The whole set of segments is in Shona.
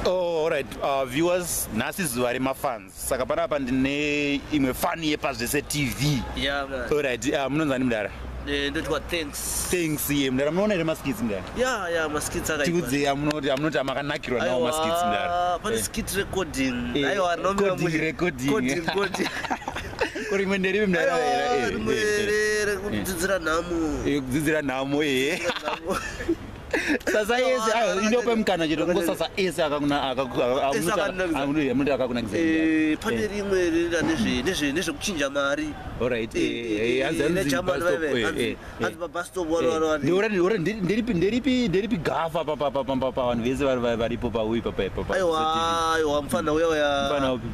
Oh, alright uh, viewers nhasi zuva remafans saka panapa ndine imwe fani yepazvese tv yeah, alright uh, munonzani mudara eh, ndotiwa thanks thanks ye mdara munoona here maskits mdara ya ya maskits aka tiudze amunoti amunoti amakanakirwa nawo maskits mdara pane eh. skit recording eh, aiwa nomira mu recording coding coding kuri imwe nderipi mdara era era kudzidzira nhamo kudzidzira nhamo ehe sasa ese ah, inope mukana chete kungo sasa ese akakunamunoti akakunakisa eh, pane eh. rimwe rinoita nezvekuchinja mari nderipi gafa pavanhu vese varipo pauyi papaaiwa mufana uya uya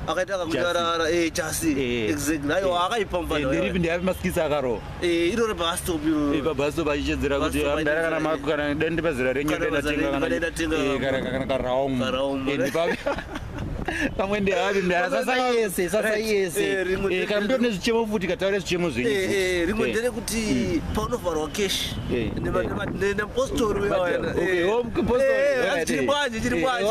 akaita akakunyarara jasi eh, exactly aiwa akaipa mufana nderipi ndeapi masikisi akarowa Eh, iroro pastop iroro eh, pabastop achichedzera kuti amdara kana mako kana dai ndipa zera renyu ndatengakanakana karaum pamwe ndehavi mdara sasa yese sasa yese eh, kana mndori nezvichemo futi kataure zvichemo zvenyu rimwe nderekuti hmm. paunovharwa keshi neapostori uyaomupostori chiri kwanje chiri kwanje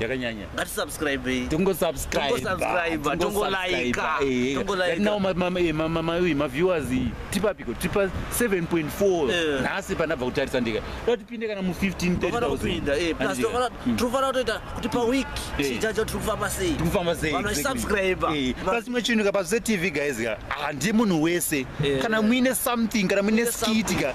yakanyanya ngatisubscribei tingosubscribetongosubscribe tongolaika tongolaikanaomamauyi maviewers tipapiko tipa 7.4 nhasi pandabva kutarisa ndika da tipinde kana mu 15tofanira kutoita kuti paweek chijaja tiri kufamba sei tiri kufamba sei vanasubscribe pasimwe chinhu ka pazetv guys ka handie munhu wese kana muine something kana muine skit ka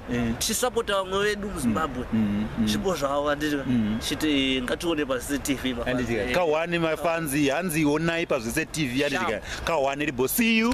Eh. tichisapota vamwe vedu muzimbabwe mm, mm, mm. zvipo zvavo vandirika chiti ngatione pazvise tv anditika kahwani mafanzi hanzi onai pazvise tv anditika kahwani ribo see you